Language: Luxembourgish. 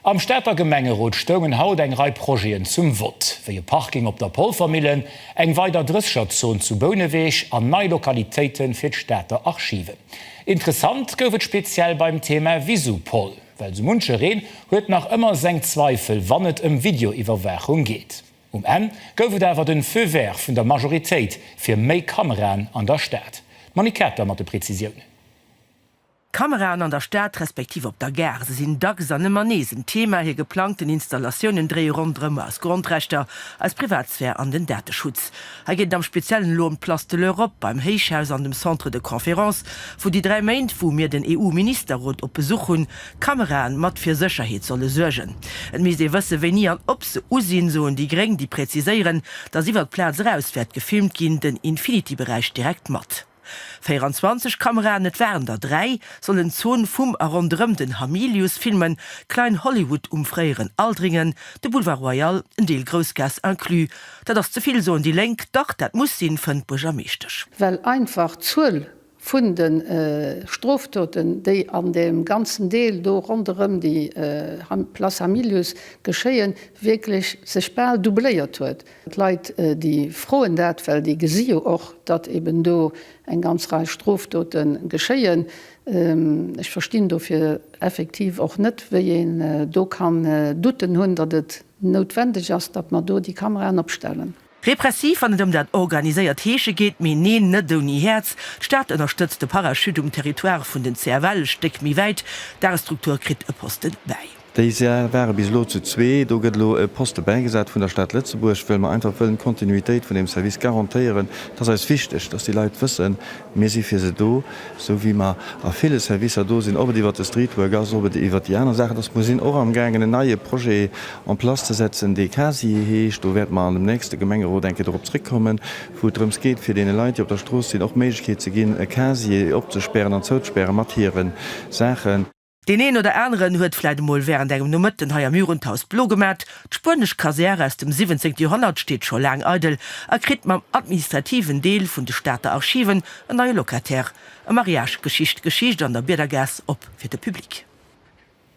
Am Stater Gemengerot stoungen haut eng Rei Projeten zum Vott, wéi e Parking op der Polvermillen, eng weider Drësscherzon zu Bouneweg an nei Lokalitéite fir d'Stater Archiven. Interessant gouf et speziell beim Thema Visupol, well sou munchereen huet nach ëmmer seng Zweifel, wann et ëm Videoiwwerwaachung geet. Um Enn gouf et awer den Feu vert vun der Majoritéit fir méi Kameraen an der Stad. D'Monique Kater mat de Prezisiounen. D'Kameraen an der Stad respektiv op der Gare, se sinn dacks an ëmmer nees en Thema. Hir geplangten Installatiounen dréie ronderëm eis Grondrechter, eis Privatsphär an den Dateschutz. Hei geet et am Speziellen elo ëm d'Place de l'Europe beim Héichhaus an dem Centre de Conférences, wou déi dräi Méint, wou mir den EU-Ministerrot op Besuch hunn, d'Kamerae mat fir Sécherheet solle suergen. Et misst ee wësse wéini an ob se u sinn, soen déi Gréng, déi präziséieren, datt iwwer d'Plaz eraus wäert gefilmt ginn, den Infinity-Beräich direkt mat. 24 Kameraen, et waren der dräi, sollen d'Zon vum a ronderëm den Hamilius filmen, Klein Hollywood um fréieren Aldringen, de Boulevard Royal, en Deel Groussgaass inclus. Dat ass ze vill, soen déi Lénk. Dach, dat muss sinn, fënnt d'Buergermeeschtesch. Well einfach d'Zuel vun de Strofdoten, déi an deem ganzen Deel do ronderëm déi Place Hamilius geschéien, wierklech sech bal doubléiert huet. D'Leit, déi froen dat, well déi gesi jo och, datt eben do eng ganz Rei Strofdote geschéien. Ech verstinn dofir effektiv och net, wéi een do kann Doutten hunn, datt et noutwendeg ass, datt mer do déi Kameraen opstellen. Repressiv, wann et ëm dat organiséiert Heesche geet, mee neen, net ouni Häerz. D'Stad ënnerstëtzt de Parachute um Territoire vun den CFL e Stéck méi wäit. D'Aerestruktur kritt e Posten bäi. Déi Säll ware bis elo zu zwee. Do gëtt elo e Poste bäigesat vun der Stad Lëtzebuerg, well mer einfach wëllen d'Kontinuitéit vun deem Service garantéieren. Et ass eis wichteg, dass déi Leit wëssen, mir si fir se do, esou wéi mer a ville Servicer do sinn, ob et iwwert de Streetwork ass, ob et iwwert déi aner Saachen ass. Mer sinn och amgaangen, en neie Projet en place ze setzen, dee CASI heescht. Do wäerte mer an dem nächste Gemengerot eng Kéier dorop zrëckkommen, wou et drëms geet, fir deene Leit, déi op der Strooss sinn, och d'Méiglechkeet ze ginn, e Casier opzespären an zouzespäre mat hire Saachen. Deen een oder aneren huet vläit emol während engem Nomëtten hei am Murun d'Haus blo gemat. D'spuenesch Kasär aus dem 17. Joerhonnert steet scho laang eidel a kritt mam administrativen Deel vun de Stater Archiven en neie Locataire. E Mariage geschicht Geschicht an der Biedergaass op fir de Public.